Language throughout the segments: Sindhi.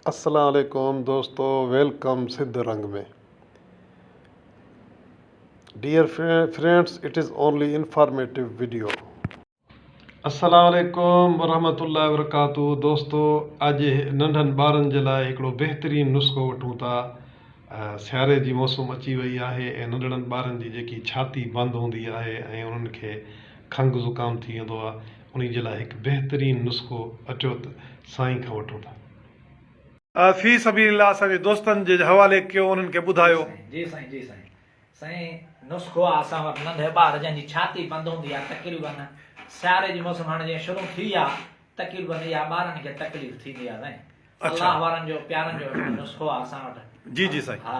السلام عليڪم دوستو welcome Sindh Rang ۾ dear friends it is only informative video. السلام عليڪم ورحمة الله وبرڪاته دوستو اڄ ننڍن ٻارن جي لاء هڪڙو بهترين نسخو وٺون ٿا سياري جي موسم اچي وئي آهي ۽ ننڍڙن ٻارن جي جيڪي ڇاتي بند هوندي آهي ۽ انهن کي کنگ زڪام ٿي ويندو آهي انهي جي لاء هڪ بهترين نسخو اچو ته سائين کان وٺون ٿا. في سبيل الله اسان جي دوستن جي حوالي ڪيو انهن کي ٻڌايو. جي سائين جي سائين سائين نسخو آ اسان وٽ ننڍي ٻار جنهن جي ڇاتي بند هوندي آ تقريبن سياري جي موسم هاڻي جيئن شروع ٿي آ تقريبن اها ٻارن کي تڪليف ٿيندي آ سائين اچا. الله وارن جو پيارن جو هڪڙو نسخو آ اسان وٽ جي جي سائين. ها.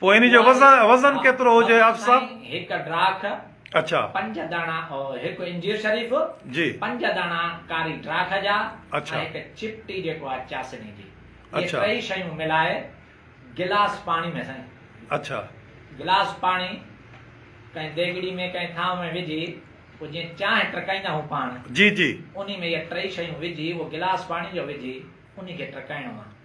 پوء ان جو وزن ڪيترو هجي آف صاحب؟ هڪ ڊراک اڇا پنج داڻا هڪ انجير شريف جي پنج داڻا ڪاري ڊراک جا اڇا هڪ چپٽي جيڪو آ چاسني جي اڇا ٽئي شيون ملائي گلاس پاڻي ۾ سائين اڇا گلاس پاڻي ڪنهن ديگڙي ۾ ڪنهن ٿانو ۾ وجهي پوء جيئن چانهه ٽرڪائيندا هو پاڻ جي جي انهي ۾ اهي ٽئي شيون وجهي اهو گلاس پاڻي جو وجهي انهي کي ٽرڪائڻو آ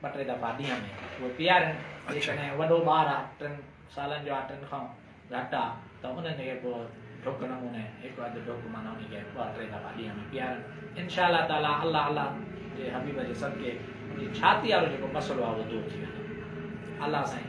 ٻه ٽي دفعا ڏينهن ۾ اهي پيارين جيڪڏهن وڏو ٻار آ ٽن سالن جو آ ٽن کان گهٽ آ ته انهن کي پوء ڍڪ نموني هڪ اڌ ڍڪ معنيٰ انهي کي ٻه ٽي دفعا ڏينهن ۾ پيارين انشاء الله تعالٰي الله الله جي حبيب جي صدقي انهي ڇاتي وارو جيڪو مسئلو آ اهو دور ٿي ويندو الله سائين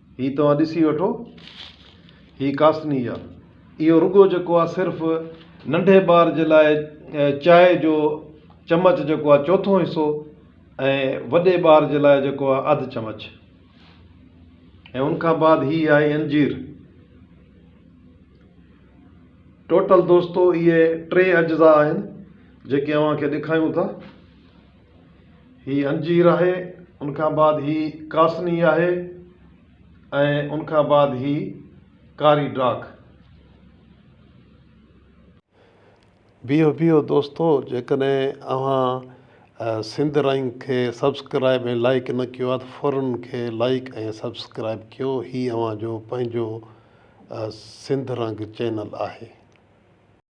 هي توهان ڏسي وٺو، هي ڪاسني يا اهو رڳو جيڪو آ صرف ننڍي ٻار جي لاء چائي جو چمچ جيڪو آ چوٿون حصو ۽ وڏي ٻار جي لاء جيڪو آ اڌ چمچ ۽ ان کان بعد هي آهي انجير. ٽوٽل دوستو اهي ٽي اجزا آهن جيڪي اوهان کي ڏيکايون ٿا. هي انجير آهي، ان کان بعد هي ڪاسني آهي ۽ ان کان بعد هي ڪاري ڊاک. بيهو بيهو دوستو جيڪڏهن اوهان سنڌ رنگ کي سبسڪرائب ۽ لائيڪ نه ڪيو آهي ته فورن ان کي لائيڪ ۽ سبسڪرائب ڪيو هي اوهان جو پنهنجو سنڌ رنگ چينل آهي.